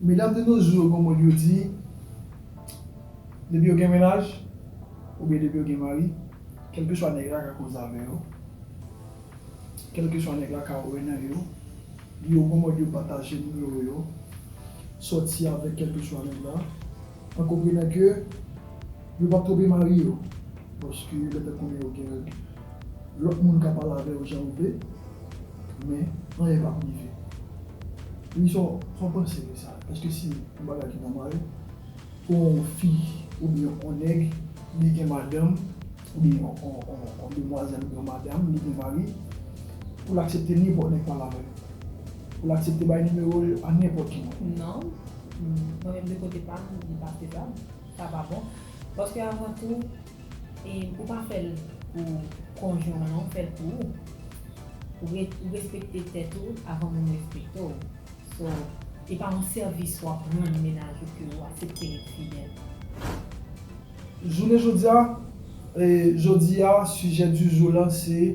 Medam de nos jours gon mo yo di depi yo gen mennaj oubyen depi yo gen mari kelkeswa nèg la ka koze avè yo. Kèlkeswa nèg la ka wè nan yo, li yo gon mòd yo pataje nimewo yo, sòti avèk kèlkeswa nèg la, an konprenan ke yo pap twonpe mari yo, paske yo gentan konnen yo gen lòt moun ka pale avè yo jan yo vle, men anyen pap rive. Wi sa w panse de sa? Eske se yon bagay ki nòmal pou yon fi oubyen yon nèg li gen madanm? Ou gen yon demwazèl, yon madam, li gen mari, pou l aksepte nenpòt nèg pale avè l? Pou l aksepte bay nimewo l a nenpòt ki moun? Non. Mwen menm de kote pa m, li pa fezab. Sa pa bon. Paske avan tou, ou pa fè l pou konjwen w lan, ou fè l pou ou. Ou respekte tèt ou avan moun respekte w. So, e pa yon sèvis w ap rann mennaj ou ke ou aksepte ret fidèl. Jounen jodi a, jodi a sujet du jour lan se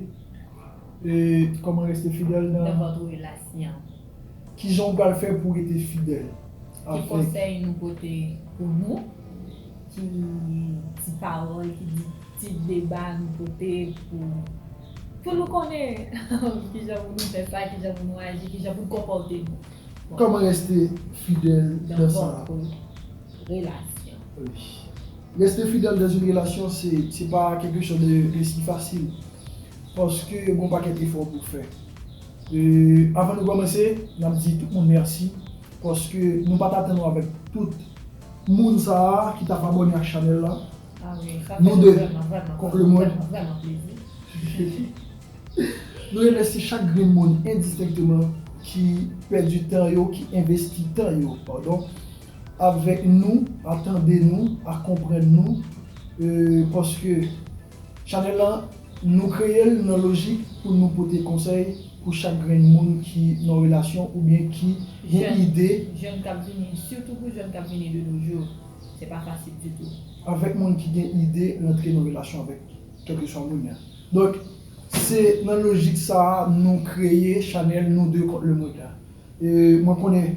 Comment rester fidèle dans votre relation. Kijan ou pral fè pou rete fidèl. Ki konsèy nou pote pou nou, ki ti pawòl, ki ti deba nou pote pou pou nou konnen kijan pou nou fè sa, kijan pou nou aji, kijan pou nou konpòte nou. Comment rester fidèle dans votre relation. Reste fidèl dans une relation se pa quelque chose de si facile paske gen yon pakèt efò pou fè. Avan nou kòmanse nap di tout moun mèsi paske nou pat atann nou avèk tout moun sa ki tap abòne ak chanèl la. Nou 2 kont le mond. Nou remèsye chak grenn moun endistenkteman ki pèdi tan yo, ki envesti tan yo, padon, Avèk nou, a tande nou, a konprann nou euh paske chanèl lan nou kreye l nan lojik pou nou pote konsèy pou chak grenn moun ki nan relasyon oubyen ki gen ide. Jèn kap vini, sitou pou jèn kap vini de nos jours, se pa fasil ditou. Avèk moun ki gen ide rantre nan relasyon avèk kèlkeswa moun nan. Donk se nan lojik sa a nou kreye chanèl nou 2 kont lemond la. E mwen konnen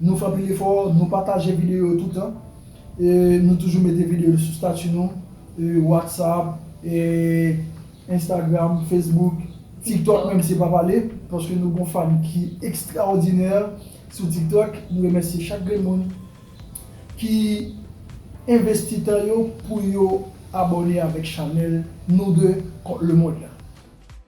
nou fè anpil efò, nou pataje videyo yo toutan, e nou toujou mete videyo yo sou stati nou, Whatsapp, Instagram, Facebook, TikTok menm se pa pale, paske nou gon fan ki ekstraòdinè sou TikTok. Nou remèsye chak grenn moun ki envesti tan yo pou yo abòne avèk chanèl nou 2 kont lemond la.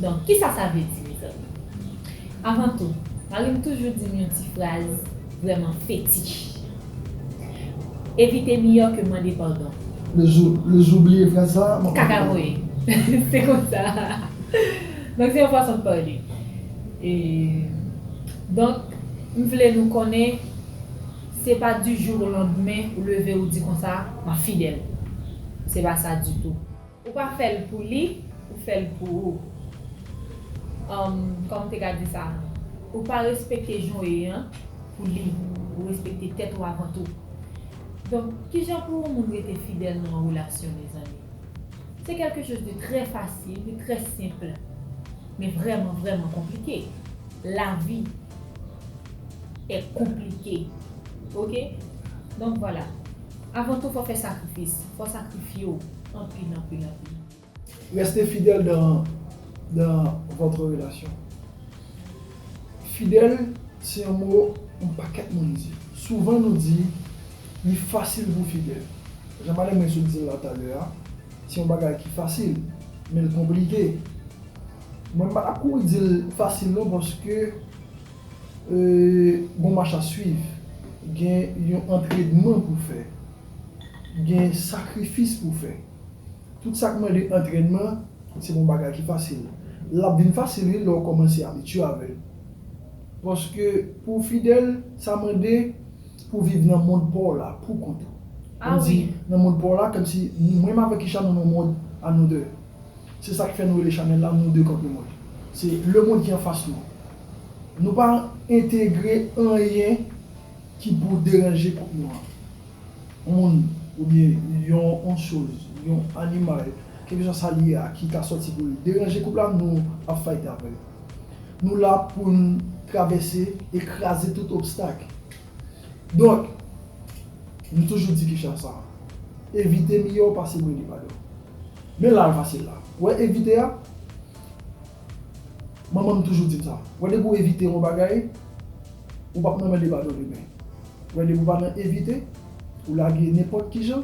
Donk, kisa sa vle di, mezanmi? Avan tou, mari m toujou di m yon ti fraz vrèman fetich, Evite miyò ke mande padon. Le jou le jou w bliye fraz sa a. Kaka voye. Se konsa. Donk, se yon fason de parler. E, donk, m vle nou konnen, se pa du jour au lendemain ou leve ou di konsa, m ap fidèl. Se pa sa ditou. Ou pa fèl pou li ou fèl pou ou humm kòman te ka di sa non. Ou pa respekte jan w ye an pou li ou respekte tèt ou avan tou donk kijan pou yon moun rete fidèl nan yon relasyon mezanmi se kèlke choz de trè fasil de trè senpl men vrèman vrèman konplike lavi è konplike ok donk vwala. Avan tou fò fè sakrifis. Fò sakrifye w anpil anpil anpil. Reste fidèl dan dan votre relasyon. Fidèl se yon mo yon pakèt moun di. Souvan nou di li fasil pou fidèl. Jan madanm mwen sot di l la talè a, se yon bagay ki fasil, men l konplike. Mwen m pa t ap kouri di l fasil non paske. Bon mach a swiv. Gen yon antredman pou fè. Gen sakrifis pou fè. Tout sa k mande antrènman, se pa yon bagay ki fasil. L ap vin fasil wi lè w kòmanse abitye avè l. Paske pou w fidèl, sa mande pou w viv nan mond pa w la poukont ou. Kòm di nan mond pa w la, kòmsi mwen m avèk Kisha nou nan yon mond a nou de. Se sak fè nou rele chanèl la monde kont le monde. Se le monde ki anfas nou. Nou pa entegre anyen ki pou deranje kont nou an. Yon moun oubyen yon yon choz, yon animal, kelkeswa sa li ye a ki ta sòti pou l deranje koup la nou ap fayt avè l. Nou la pou n travèse e kraze tout obstak. Donk, nou toujou di kicha sa, evite miyò pase mande padon. Men la fasil la. Ou wè evite a? Manman m toujou di m sa. Ou wè depi w evite yon bagay, ou pap nan mède pa do demen. Ou wè depi w pa nan evite, ou lage nenpòt kijan,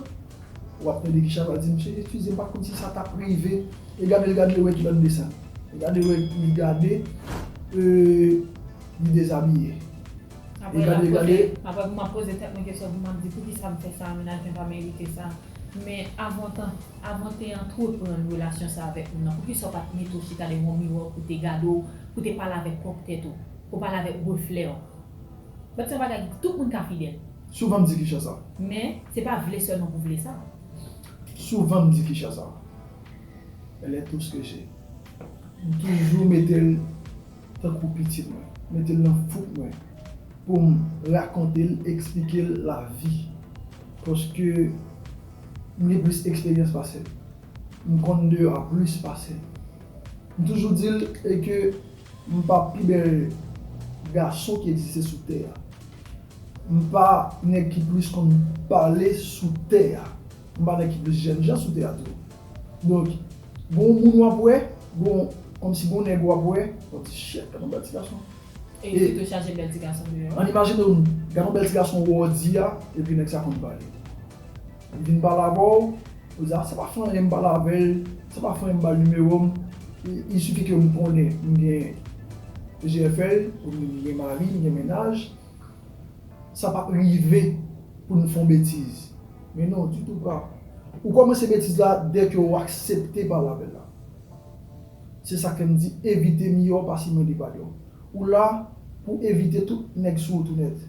ou ap mède Guichard va di misye eskize m pa konn si sa t ap rive. E gade l gade l e wè ki lòt desen. E gade l wè li gade e li dezabiye. Apre l ap poze, apre m ap poze tèt mwen kesyon pou m ap di poukisa m fè sa a menaj mwen pa merite sa. Men avantan, avan te antreprann relasyon sa avèk moun nan, poukisa ou pa t mete w chita devan yon miwa pou w te gade w, pou w te pale avèk pwòp tèt ou, pou w pale avèk reflè w? Bat se yon bagay tout moun ka fidèl. Souvan m di kicha sa. Men, se pa vle sèlman pou vle sa. Souvan m di kicha sa. Elle est tout ce que j'ai. M toujou mete l tankou pitit mwen, mete l nan fouk mwen pou m rakonte l, eksplike l lavi paske m gen plis eksperyans pase l, m konn deyò a plis pase l. M toujou di l e ke m pa pi bèl gason ki egziste sou tè a. M pa nèg ki plis konn pale sou tè a. M pa nan ki plis jèn jan sou teyat la. Donk, gon w moun w ap wè, gon, kòmsi gon nèg w ap wè, yon ti chèk, gad yon bèl ti gason. E li pito chaje bèl ti gason deyò. An imajine w, gad yon bèl ti gason w wè w di a, epi nèg sa konn pale. Li vin pale avè w, ou di a, se pa fè anyen m pale avè l, se pa fè anyen m ba l nimewo m, il suffit ke m konnen m gen GFL, m gen mari, m gen mennaj. Sa pap rive pou nou fon betiz. Men non, ditou ou pap. Ou kòmanse betiz la dè ke ou aksepte palabel la. Se sak fè m di evite miyò pase mande padon. Ou la pou evite tout nèg sou wout ou nèt.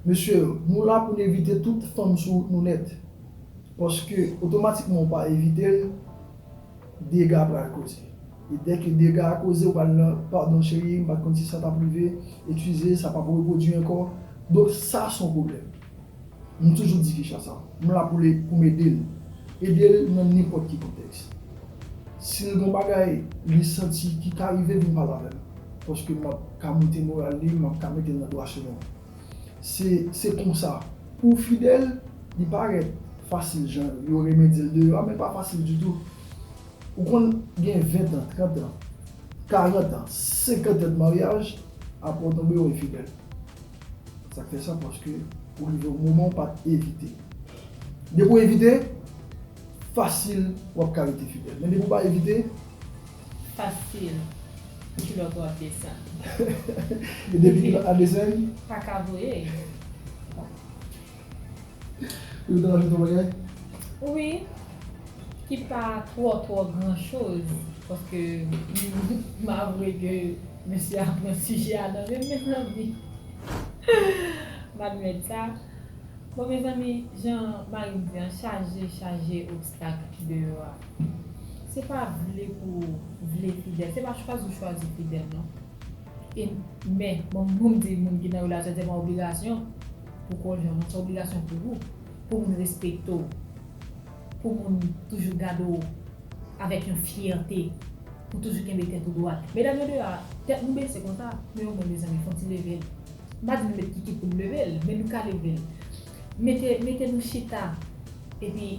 Mesye yo, nou la pou n evite tout fanm sou wout nou nèt. Paske otomatikman ou pa evite l, dega pral koze. E dès ke dega a koze ou pral nan pardon cherie m pat konn si sa tap rive excuze sa pap reprodwi ankò donk sa son problèm m toujou di Kesha sa m la pou m ede l ede l nan nenpòt ki kontèks si l gon bagay li santi ki ka rive vin pale avè m paske map ka moute moral li map ka mete l nan dwa chemen se se konsa pou fidèl li parèt fasil jan yo renmen di l deyò a men pa fasil ditou. Ou konn gen 20 tan, 30 tan, 40 tan, 50 tan de maryaj apre ou tonbe ou enfidèl. Sak fè sa paske ou rive yon moman ou pat evite. Depi ou evite, fasil wap ka rete fidèl. Men depi ou pa evite. Fasil kilòt ou ap desann. E depi kilòt la desann. Paka voye. Yo te rajoute yon bagay? Wi, ki pa twò twò gran choz, paske m avwe ke mesye a pran sijè a nan men m mezanmi. M admèt sa. Bon mezanmi, jan mari m di an, chaje, chaje obstak ki deyò a. Se pa vle pou vle fidèl, se pa chwazi ou chwazi fidèl non. E men, bon moun di moun ki nan relasyon se pa obligasyon pou konjwen ou, se obligasyon pou ou, pou moun respekte w, pou moun toujou gade w avèk yon fyète, pou toujou kenbe tèt ou dwat. Medam yo deyò a, tèt nou bese konsa, men omwen mezanmi fon ti leve l. M pa di nou met kikit pou n leve l, men nou ka leve l. Mete, mete nou chita epi.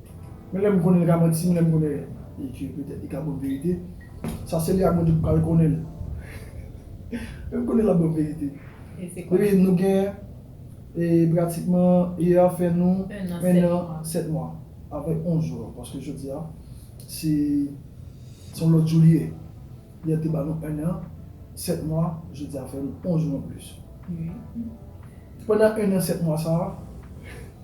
Men lèm konnen li ka manti men lèm konnen li ke petèt li ka banm verite sa seli ak bondye ki pral konnen menm konnen lap banm verite depi nou gen e pratikman yè ap fè nou 1 an 7 mwa avèk 11 jou an paske jodia se son lòt jou li ye yè te ba nou 1 an 7 mwa jodia fè nou 11 jou anplis pandan 1 an 7 mwa sa.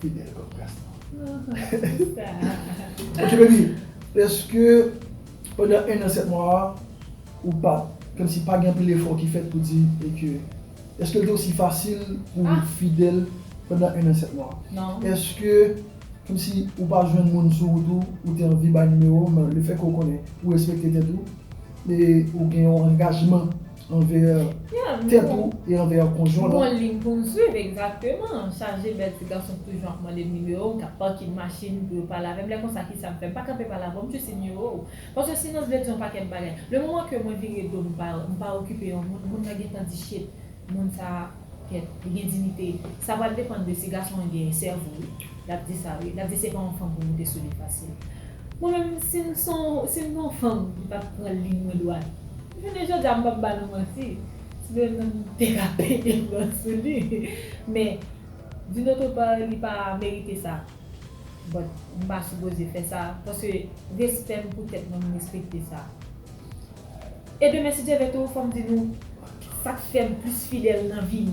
Pi bel kòk gaston. Ok baby eske pandan 1 an 7 mwa a ou pa kòm si pa gen anpil efò ki fèt pou di e ke eske l te osi fasil pou fidèl pandan 1 an 7 mwa a? Eske kòm si ou pa jwenn moun sou wout ou ou te anvi bay nimewo men le fè ke ou konnen ou respekte tèt ou e ou gen yon angajman. Anveyè tèt ou e anveyè konjwen ou. Bon lign pou m swiv egzakteman. Chaje bèl ti gason k toujou ap mande m nimewo m k ap pake machin pou yo pale avè m lè konsa kisa m fè m pa kanpe pale avè w m jis di nimewo w paske silans vle di yon pakèt bagay le moman ke mwen vire do m pa okipe yon moun moun nan gentan di shit moun sa Kèt, li gen diyite. Sa pral depann de si gason an gen sèvo wi. L ap di sa wi. L ap di se pa yon fanm pou moute sou li fasil. Mwen menm, si m son, si m t yon fanm m t ap pran liy mwen dwat. Jounen jodi a m p ap ba nou manti, si te menm m te ka pete plon sou li. Men, d'une autre part li pa merite sa. But m pa sipoze fè sa, paske respè m pou tèt mwen m respekte sa. E demen si Dye vle tou fòm di nou sak fèm plis fidèl nan vim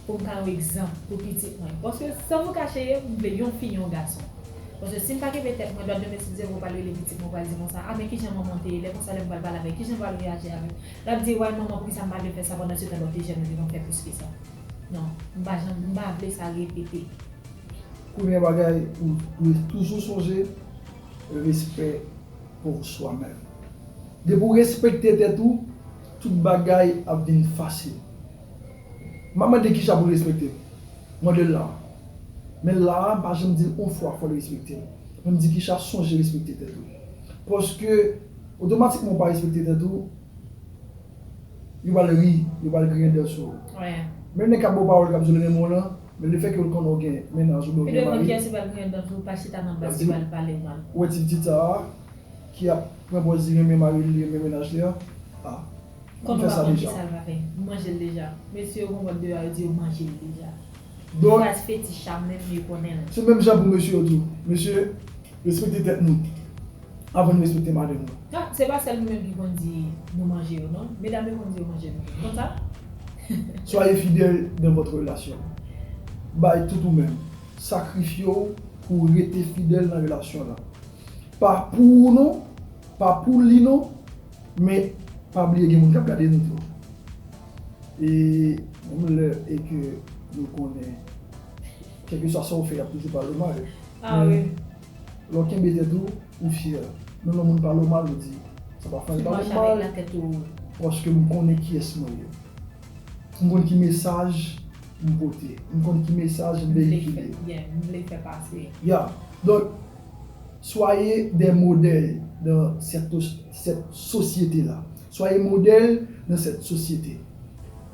poum ka yon egzanp pou pitit mwen paske san nou kache m vle yon fi yon gason paske sim pa kenbe tèt mwen dwat demen si Dye vle ou pral rele pitit mwen ou pral di konsa a men kijan manmanm te ye lè konsa lèm pral pale avèl kijan pral reyaji avèm lap di way manman poukisa m pa vle fè sa pandan setan lòt fi jèn ou te konn fè plis ke sa nan m pa janm m pa vle sa repete. Premye bagay ou dwe toujou sonje respè. pour soi même. Depi w respekte tèt ou, tout bagay ap vin fasil. M ap mande kisa pou l respekte m? M mande l la a. Men la a m pa janm di l on fwa fò l respekte m. Men m di kisa sonje respekte tèt ou. Paske otomatikman w pa respekte tèt ou, Yo pral ri, yo pral griyen dèn sou ou. Menm nèg k ap ba w pawòl k ap di w li renmen w lan, men lefètke l konnen w gen mennaj oubyen w gen mari, l ap di w wè ti pitit sa a ki ap pran pòz li renmen mari l, li renmen mennaj li an, a li fè sa deja. Don. Jazz fetish a mwen vle konnen l. Se menm jan pou mesye yo tou. Mesye, respekte tèt nou avan nou respekte madanm nou. Ha, se pa sèl nou menm ki konn di nou manje yo non. Medam yo konn di yo manje nou tou. Konsa? Soyez fidèle dans votre relation. Bay tout ou menm. Sakrifye w pou w rete fidèl nan relasyon w lan. Pa pou ou non, pa pou li non, men pa bliye gen moun k ap gade nou tou. E menm lè e ke nou konnen kèlkeswa sa ou fè y ap toujou pale w mal, men lè w kenbe tèt ou, ou fyè. Menm lè moun pale w mal ou di sa pa fè anyen, sa pa fè mal paske m konnen kiyès mwen ye. M konn ki mesaj m pote, m konn ki mesaj m veyikile. Ya, donk swaye dè modèl nan sèt sosyete la. Soyez modèle dans cette société.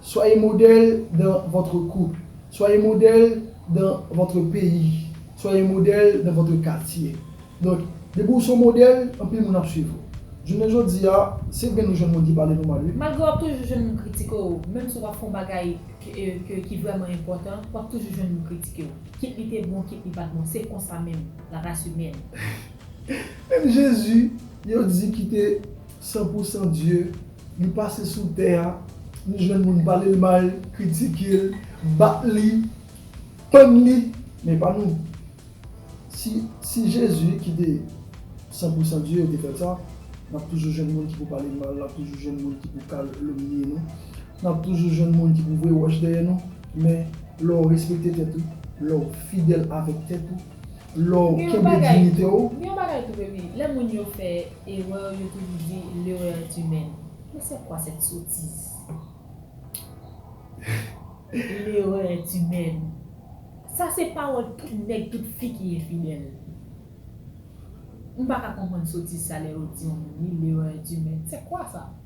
Soyez modèle dans votre couple. Soyez modèle dans votre pays. Soyez modèle dans votre quartier. Donc, depi ou se yon modèle, anpil moun ap swiv ou. Jounen jodi a, se vre nou jwenn moun ki pale nou mal wi. Malgre wap toujou jwenn moun kritike w, menm si wap fè yon bagay ke ki vrèman enpòtan, wap toujou jwenn moun kritike w. Kit li te bon, kit li pat bon, se konsa menm, la race humaine. Menm Jezi yo di kite. San pou san Dye, li pase sou tè a, li jwenn moun pale l mal, kritike l, bat li, pann li, men pa nou. Si si Jezi ki te san pou san Dye yo te fè sa, n ap toujou jwenn moun ki pou pale n mal, n ap toujou jwenn moun ki pou kalomnye nou, n ap toujou jwenn moun ki pou voye wòch dèyè nou, men lè w respekte tèt ou, lè w fidèl avèk tèt ou, Lè w kenbe dignite w. M gen yon bagay tou baby, lè moun yo fè erreur yo toujou di l'erreur est humaine. Mais c'est quoi cette sottise? L'erreur est humaine. Sa se pawòl tout nèg tout fi ki enfidèl. M pa ka konprann sotiz sa lè yo di yon moun li l'erreur est humaine. C'est quoi ça?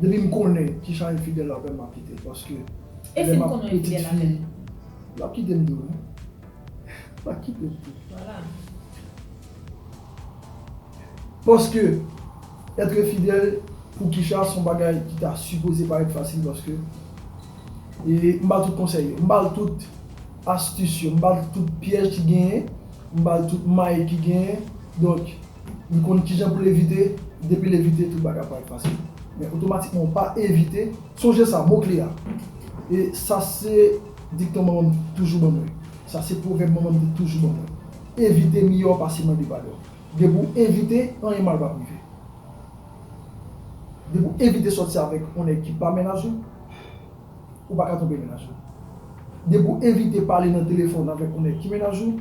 Depi m konnen kijan enfidèl avèm map kitel paske lè map pitit fi lap kitem tou wi lap kitem tou paske etre fidèl pou Kisha son bagay ki ta sipoze parèt fasil paske m bal tout konsèy yo m bal tout astis yo m bal tout pyèj ki genyen m bal tout may ki genyen donk. Li konn kijan pou l evite, depi l evite tout bagay ap parèt fasil. Men otomatikman ou pa evite, sonje sa, mo kle a, e sa se dikton manman m toujou ban mwen, sa se pwovèb manman m te toujou ban mwen, evite miyò pase mande padon. Depi w evite, anyen mal pap rive. Depi w evite sòti avèk yon nèg ki pa mennaj ou, ou pa ka twonpe mennaj ou. Depi w evite pale nan telefòn avèk yon nèg ki mennaj ou,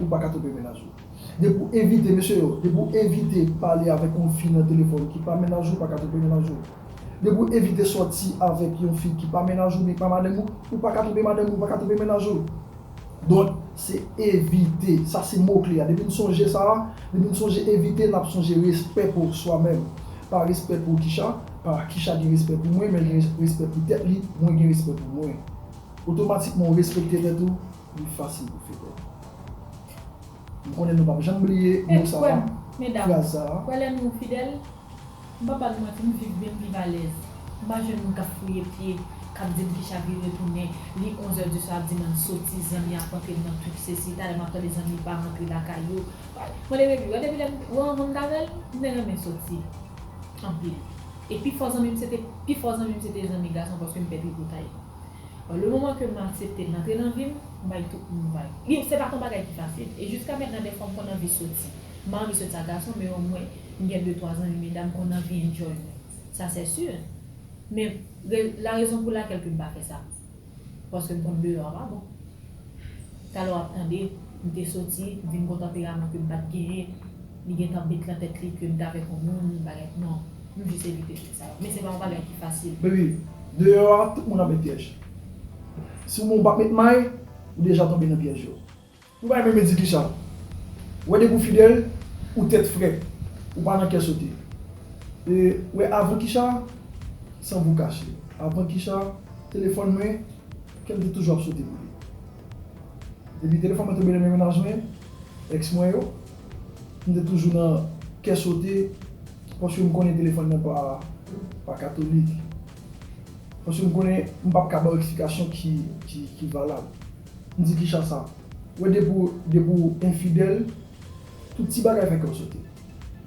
ou pa ka twonpe mennaj ou. Depi w evite, mesye yo, depi w evite pale avèk yon fi nan telefòn ki pa mennaj ou, ou pa ka twonpe mennaj ou. Depi w evite sòti avèk yon fi ki pa mennaj ou, ni pa madanm ou, ou pa ka twonpe madanm ou, ou pa ka twonpe mennaj ou. Donk, se evite. Sa se mo kle a. Depi n sonje sa a, depi n sonje evite, n ap sonje respè pou swa menm. Pa respè pou Kisha, pa Kisha gen respè pou mwen, men l gen respè pou tèt li, mwen gen respè pou mwen. Otomatikman ou respekte tèt ou, Li fasil pou fete. M konnen nou pap janm bliye mo sa a, fraz sa a. Kwè lè nou fidèl. M pa pral manti, m viv byen, m viv alèz. M pa jwenn moun k ap fouye pye, k ap di m ki chavire retounen. Li onzè di swa, ap di m ann soti, zanmi ap antre m nan twip sesi. Talè m ap tande zanmi pa rantre lakay yo. Mwen te revi. Depi lè m te wè yon zanmi ta bèl, m te renmen soti anpil. E pi fò zanmi m se te pi fò zanmi m se te zanmi gason paske m pè pi gwo tay. Le moman ke m aksepte l antre nan vi m, m bay tout moun vag. Li, se pa t yon bagay ki fasil. E jiska mètnan dèfwa m konn anvi soti. M pa anvi soti ak gason men omwen m gen de twa zanmi medam m konn anvi enjoy mwen. Sa sè si. Men la rezon pou lakèl ke m pa fè sa. Paske m konn deyò a pa bon. Talè w ap tande, m te soti, m vin gon tanperaman ke m pa t genyen. li gentan met nan tèt li ke m t avèk yon moun bagay non m jis evite trik sa yo men se pa yon bagay ki fasil. Baby, deyò a tout moun ap met pyèj. Si w menm ou pa met may, ou deja tonbe nan pyèj yo. Ou bay menm Eddy Kisha. Ou wè depi ou fidèl, ou tèt frèt, ou pa nan kè sote. E ou wè avan Kisha, san vou kache, avan Kisha, telefòn mwen, kè m te toujou ap sote pou li. Depi telefòn mwen tonbe nan men mennaj mwen, ex mwen yo, M te toujou nan kè sote paske m konnen telefòn nan pa katolik. Paske m konnen m pap ka ba w eksplikasyon ki valab. M di kicha sa? Wè depi w enfidèl, tout ti bagay fè kè w sote.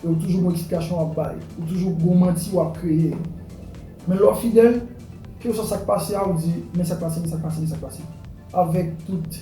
E w toujou gon eksplikasyon w ap bay. Ou toujou gon manti w ap kreye. Men lè w fidèl, kèlkeswa sa k pase a ou di men sa k pase, men sa k pase, men sa k pase. Avèk tout.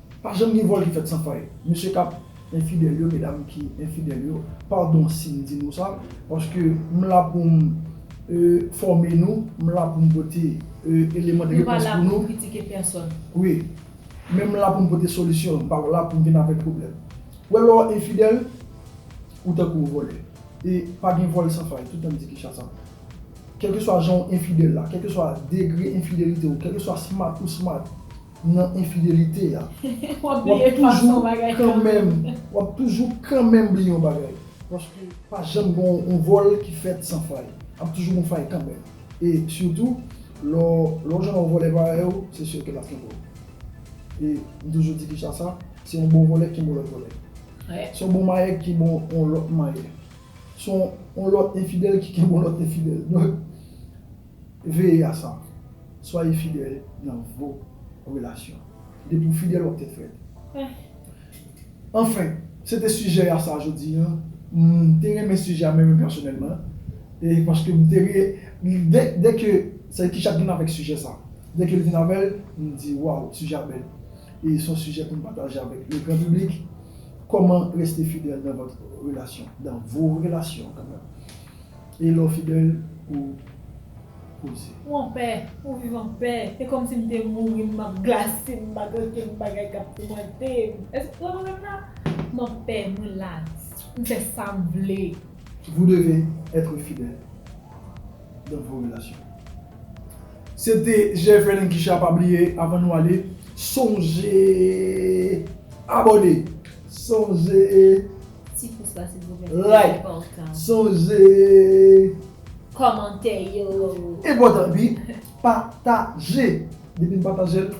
Pa janm gen vòl ki fèt san fay mesye kap enfidèl yo medam ki enfidèl yo padon sim di mo sa paske m la poum fòme nou m la poum pote eleman de repons pou nou wi men m la poum pote solisyon m pa la poum vin avèk pwoblèm ou wè lè w enfidèl ou tankou w vòlè e pa gen vòl san fay toutan m di kicha sa kèlkeswa jan w enfidèl la kèlkeswa degre enfidelite w kèlkeswa smat ou smat nan enfidelite a wap toujou kanmenm wap toujou kanmenm bliye yon bagay paske pa janm gen yon vòl ki fèt san fay ap toujou gen fay kanmenm e sitou lè w jwenn yon vòlè parèy ou se sur ke lap gen vòlè e m toujou di kisa sa se yon bon vòlè ki bon lòt vòlè se yon bon mayè ki bon yon lòt mayè se yon lòt enfidèl ki gen yon lòt enfidèl donk. Veye a sa, Swaye fidèl nan vo relasyon. Depi w fidèl wap tèt frèt. Anfen, se te sijè a sa jodi an. M te renmen sijè a mwen menm pèsonèlman. E paske m te re, dè ke sa ki chat vin avèk sijè sa. Dè ke l vin avè l, m di waw sijè a bèl. E s on sijè pou n pataje avèk le gran piblik. Kòman reste fidèl nan vòt relasyon, dan vo relasyon kanmèm. E lè w fidèl ou koze. Ou anpè, ou viv anpè. Se kòmsi m te mouri, m ap glase, m pa gen okenn bagay k ap toumante m. Èske w konprann m la? M anpè, mwen lait, m fè sa m vle. Vous devez être fidèle dans vos relations. Se te Jefferlin Guichard pa bliye avan nou ale sonje abòne, sonje Ti pous la silvouplè se trè enpòtan. Like, sonje. Kòmante yo. Enpòtan wi, pataje. Depi n pataje l,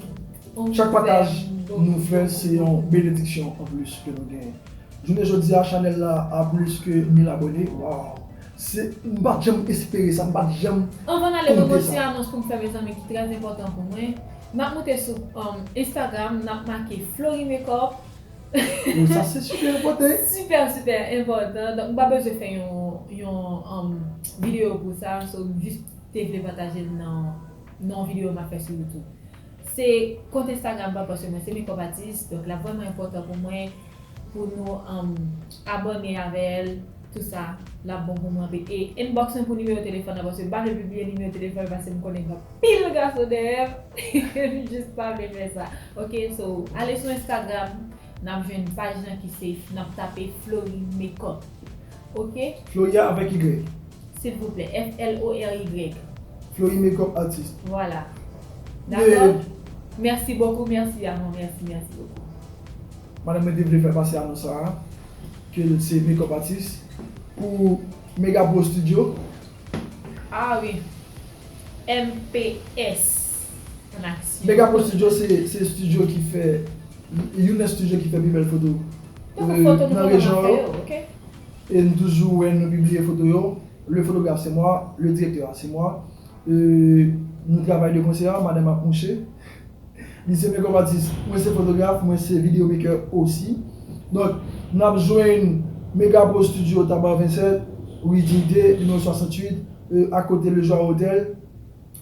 chak pataj nou fè se yon benediksyon anplis ke nou genyen. Jounen jodi a chanèl la a plis ke 1000 abòne, waww. Se, m pat janm espere sa, m pat janm konte sa. Anvan n ale mwen gen yon ti anons pou m fè mezanmi ki trè enpòtan pou mwen. N ap moute sou Instagram, n ap make Florimekòp, Wi sa se super enpòtan. Super super enpòtan donk m pa bezwen fè yon yon um video pou sa so m jis te vle pataje l nan nan yon video map fè sou YouTube. Se kont Instagram pam paske mwen se makeup atis donk lap vrèman enpòtan pou mwen pou nou um abòne avè l. Tout sa lap bon pou mwen anpil. E inbox mwen pou nimewo telefòn nan paske m pa vle pibliye nimewo telefòn paske m konnen gen anpil gason dèyè m e m jis pa vle fè sa ok so ale sou instagram nap jwenn paj lan ki se nap tape Florie makeup ok. Florie a avèk y. Silvouplè FLORY. Florie makeup artiste. Vwala. Dakò? Mèsi bokou mèsi amò mèsi mèsi bokou. Madanm mwen te vle fè pase anons sa a ke l se makeup atis pou Mega Pro Studio. Ah wi. MPS an aksyon. Mega Pro Studio se studio ki fè, youn nan studio ki fè pi bèl foto nan rejyon yo. E nou toujou wè nou pibliye foto yo. Le photographe c'est moi, le directeur c'est moi. Nou travay de konsè, madanm ap mouche. Li se makeup artist, mwen se fotograf, mwen se video maker osi. Donk nap jwenn Megapro Studio Tabar 27, rue Dignité, numéro 68, a kote Le Joie Hotel.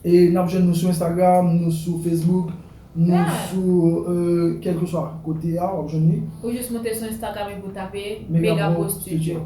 E nap jwenn nou sou Instagram, nou sou Facebook, nou sou kèlkeswa kote a wap jwenn li. Ou jis moute sou Instagram epi ou tape Megapro Studio.